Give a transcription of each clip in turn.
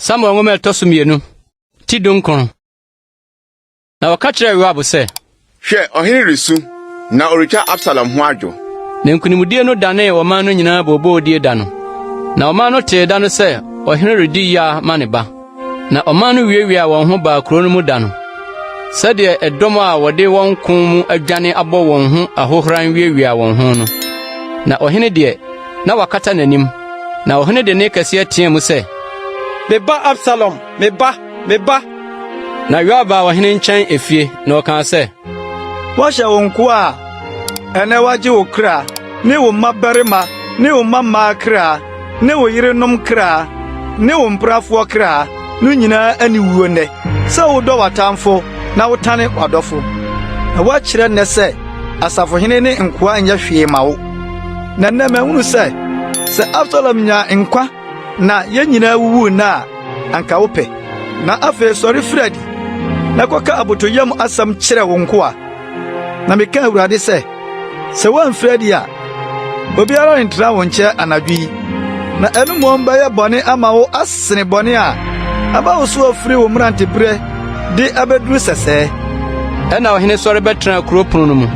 Samuel nwoma ɛtɔ so mmienu ti dunkron na wɔka kyerɛɛ Yoab sɛ, Hwɛ, ɔhene resu na ɔretwa Absalom ho adwo. Na nkonimdie no danee ɔman no nyinaa booboodie da no, na ɔman no tee da no sɛ ɔhene redi yea ma ne ba. Na ɔman no wiawiaa wɔn ho baa kurow no mu da no, sɛdeɛ ɛdɔm a wɔde wɔn ko mu adwane abɔ wɔn ho ahohora wiawiaa wɔn ho no. Na ɔhene deɛ, na wɔakata n'anim. Na ɔhene de nne kɛseɛ teaa mu sɛ, Me ba Absalom, me ba, me ba! Na Yoab baa ɔhene nkyɛn efie, na ɔkaa sɛ. Woahyɛ wo nkoa a ɛnɛ wagye wo kra ne wo mmabarima ne wo mmammaa kra ne wo yerenom kra ne wo mprafoɔ kra no nyinaa aniwuo nnɛ sɛ wodɔ w'atamfo na wotane w'adɔfo. Na woakyerɛ nnɛ sɛ asafohene ne nkoa nyɛ hwee ma wo. Na nnɛ mahunu sɛ sɛ Absalom nya nkwa Na yɛn nyinaa wuwu nna a anka wopɛ. Na afei sɔre firi adi na kɔka abotɔyam asɛm kyerɛ wo nkoa. Na meka Awurade sɛ, sɛ woamfiri adi a, obiara rentra wo nkyɛn anadwo yi, na ɛno mmom bɛyɛ bɔne ama wo asene bɔne a aba wo so afiri wo mmeranteberɛ de abɛduru sɛsɛɛ. Ɛnna ɔhene sɔre bɛtenaa kuro pono no mu,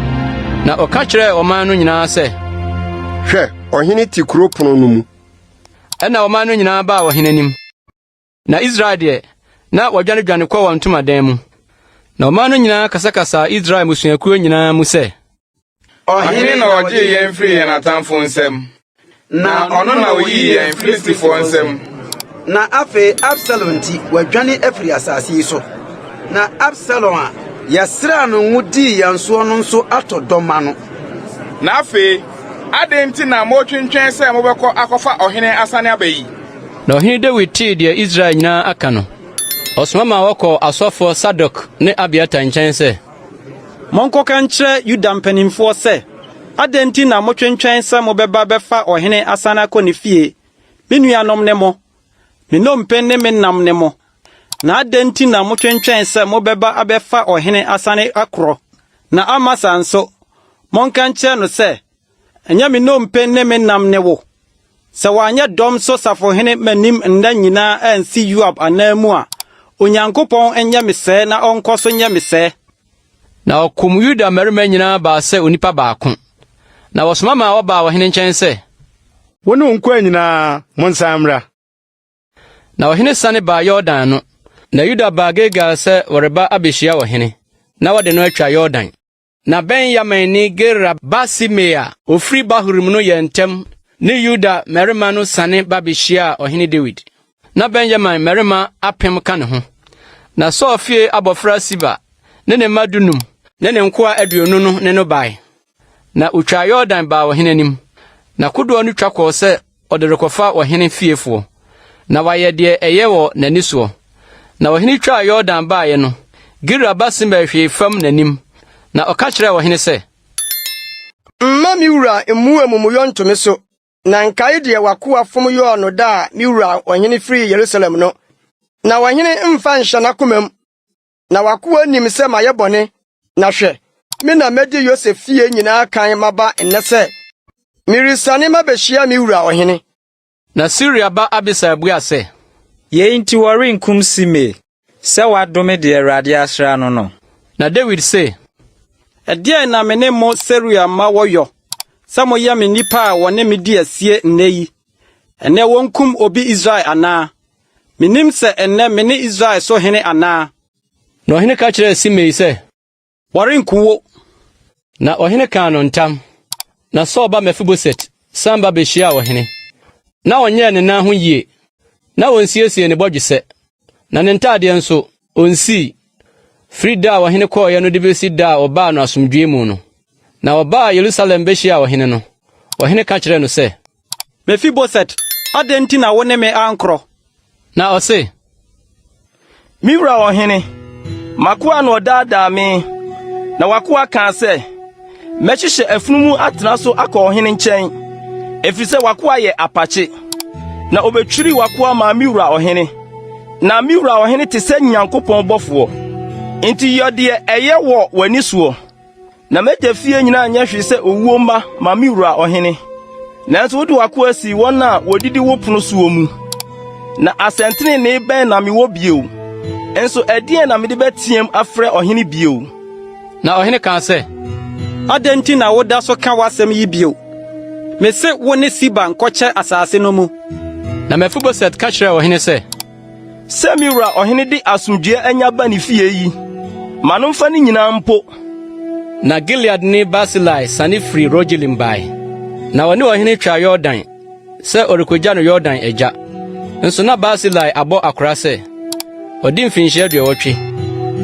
na ɔka kyerɛɛ ɔman no nyinaa sɛ, Hwɛ, ɔhene te kuro pono no mu, Ɛnna ɔman no nyinaa baa ɔhene anim. Na Israel deɛ, na wɔadwanedwane kɔ wɔn ntomadan mu. Na ɔman no nyinaa kasakasaa Israel mmusuakuo nyinaa mu sɛ. Ɔhene na ɔgyee yɛn firii yɛn atamfo nsam, na ɔno na ɔyii yɛn Filistifoɔ nsam. Na afei Absalom nti, wɔadwane afiri asase yi so. Na Absalom a yɛsraa no ngo dii yɛn soɔ no nso atɔ dɔ ma no. Na afei Adɛn nti na moretwentwɛn sɛ mobɛkɔ akɔfa ɔhene asane aba yi? Na ɔhene Dawid tee deɛ Israel nyinaa aka no, ɔsoma maa wɔkɔɔ asɔfoɔ Sadok ne Abiatar nkyɛn sɛ. Monkɔka nkyerɛ Yuda mpanimfoɔ sɛ, 'Adɛn nti na motwentwɛn sɛ mobɛba abɛfa ɔhene asane akɔ ne fie? Me nuanom ne mo, me nnompe ne me nam ne mo. Na adɛn nti na motwentwɛn sɛ mobɛba abɛfa ɔhene asane akorɔ? Na Amasa nso, monka nkyerɛ no sɛ, 'Ɛnyɛ me nnompe ne me nam ne wo. Sɛ wanyɛ dɔm so safohene m'anim nna nyinaa ansi Yoab ananmu a, Onyankopɔn nyɛ me sɛɛ na ɔnkɔ so nyɛ me sɛɛ. Na wɔkum Yuda mmarima nyinaa baa sɛ onipa baako. Na wɔsoma maa wɔbaa ɔhene nkyɛn sɛ. Wo ne wo nkoa nyinaa, monsan mmra. Na ɔhene siane baa Yordan ano, na Yuda baa Gilgal sɛ wɔreba abehyia ɔhene, na wɔde no atwa Yordan. Na Benyaminni Gera ba Simei a ɔfiri Bahurim no yɛɛ ntɛm ne Yuda mmarima no siane ba bɛhyiaa ɔhene Dawid. Na Benyamin mmarima apem ka ne ho. Na Saul fie abɔfra Siba ne ne mma dunum ne ne nkoa aduonu no ne no bae. Na otwaa Yordan baa ɔhene anim, na kodoɔ no twa kɔɔ sɛ ɔde rekɔfa ɔhene fiefoɔ, na wayɛ deɛ ɛyɛ wɔ n'ani soɔ. Na ɔhene twaa Yordan baeɛ no, Gira ba Simei hwee fam n'anim, na ɔka kyerɛɛ ɔhene sɛ. Mma me wura mmu amumuyɔ nto me so, na nkae deɛ w'akoa fom yɔɔ no da a me wura ɔhene firii Yerusalem no, na ɔhene mfa nhyɛ n'akomam. na w'akoa nim sɛ mayɛ bɔne, na hwɛ, me na madi Yosef fie nyinaa kan maba nnɛ sɛ meresiane mabehyia me wura ɔhene. Na Seruia ba Abisai bua sɛ. Yei nti wɔrenkum Simei sɛ wadome deɛ Awurade asra no no? Na Dawid se. Ɛdeɛn na me ne mo Seruia mma wɔyɔ sɛ moyɛ me nnipa a wɔne me di asie nnɛ yi Ɛnnɛ wɔnkum obi Israel anaa? Mennim sɛ ɛnnɛ mene Israel so hene anaa? Na ɔhene ka kyerɛɛ Simei sɛ. Wɔrenku wo. Na ɔhene kaa no ntam. Na Saul ba Mefiboset san ba bɛhyiaa ɔhene. Ná ɔnyɛɛ ne nan ho yie, na ɔnsiesiee ne bɔdwesɛ, na ne ntadeɛ nso, ɔnsii, firi da a ɔhene kɔeɛ no de bɛsi da a ɔbaa no asomdwoeɛ mu no. Na ɔbaa Yerusalem bɛhyiaa ɔhene no, ɔhene ka kyerɛɛ no sɛ. Mefiboset, adɛn nti na wo ne me ankorɔ? Na ɔse, Me wura ɔhene, m'akoa na ɔdaadaa me, na w'akoa kaa sɛ, Mɛhyehyɛ afunumu atena so akɔ ɔhene nkyɛn, ɛfiri sɛ w'akoa yɛ apakye. Na ɔbɛtwiri w'akoa maa me wura ɔhene. Na me wura ɔhene te sɛ Nyankopɔn bɔfoɔ, enti yɔ deɛ ɛyɛ wɔ w'ani soɔ. Na m'agya fie nyinaa nyɛ hwee sɛ owuo mma ma me wura ɔhene. Nanso wode w'akoa sii wɔn a wɔdidi wo pono soɔ mu. Na asɛntenenee bɛn na mewɔ bio? Nso ɛdeɛn na mede bɛteɛm afrɛ ɔhene bio?” Na ɔhene kaa sɛ, Adɛn nti na woda so ka w'asɛm yi bio? Mese wo ne Siba nkɔkyɛ asase no mu. Na Mefiboset ka kyerɛɛ ɔhene sɛ. Sɛ me wura ɔhene de asomdwoeɛ anya ba ne fie yi, ma no mfa ne nyinaa mpo. Na Gileadni Barsilai sane firi Rogelim bae, na ɔne ɔhene twaa Yordan sɛ ɔrekɔgya no Yordan agya. Nso na Barsilai abɔ akora sɛ ɔdi mfinhyia aduɔwɔtwe.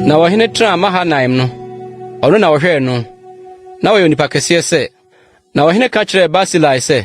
Na ɔhene tenaa Mahanaim no, ɔno na ɔhwɛɛ no. Na ɔyɛ onipa kɛseɛ sɛ. Na ɔhene ka kyerɛɛ Barsilai sɛ,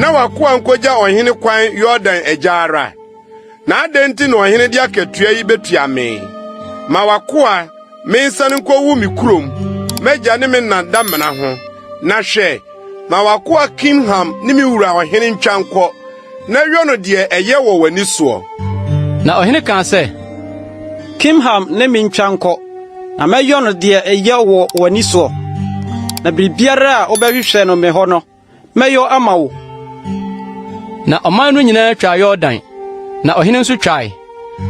na w'akoa nkogya ɔhene kwan Yordan agya ara. Na adɛn nti na ɔhene de akatua yi betua me? Ma w'akoa mensan nkowu me kurom, m'agya ne me nna damena ho. Na hwɛ, ma w'akoa Kimham ne me wura ɔhene ntwa nkɔ, na yɔ no deɛ ɛyɛ wɔ w'ani soɔ. Na ɔhene kaa sɛ, Kimham ne me ntwa nkɔ. Na mɛyɔ no deɛ ɛyɛ wɔ w'ani soɔ, na biribiara a wobɛhwehwɛ no me hɔ no, mɛyɔ ama wo. Na ɔman no nyinaa twaa Yordan, na ɔhene nso twae.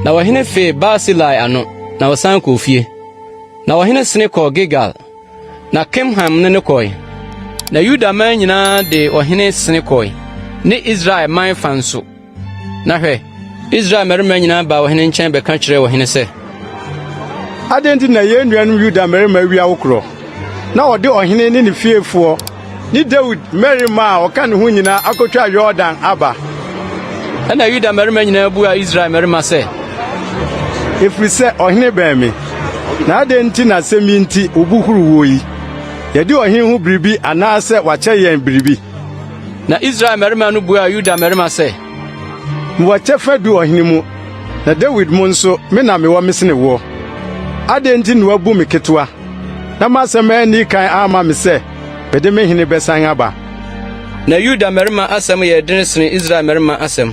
Na ɔhene fee Barsilai ano, na ɔsan kɔɔ fie. Na ɔhene sene kɔɔ Gilgal, na Kimham ne no kɔe. Na Yuda man nyinaa de ɔhene sene kɔe, ne Israel man fã nso. Na hwɛ, Israel mmarima nyinaa baa ɔhene nkyɛn bɛka kyerɛɛ ɔhene sɛ. Adɛn nti na yɛn nuanom Yuda mmarima awi awokorɔ, na wɔde ɔhene ne ne fiefoɔ ne Dawid mmarima a wɔka ne ho nyinaa akɔtwa Yordan aba? Ɛnna Yuda mmarima nyinaa buaa Israel mmarima sɛ. Ɛfiri sɛ ɔhene bɛn me, na adɛn nti na asɛm yi nti wo bo huru woɔ yi? Yɛadi ɔhene ho biribi anaasɛ wakyɛ yɛn biribi? Na Israel mmarima no buaa Yuda mmarima sɛ, “Mowɔ kyɛfa du ɔhene mu, na Dawid mu nso, me na mewɔ me sene woɔ. Adɛn nti na woabu me ketewa, na m'asɛm anni kan amma me sɛ mede me hene bɛsan aba?” Na Yuda mmarima asɛm yɛɛ dene sene Israel mmarima asɛm.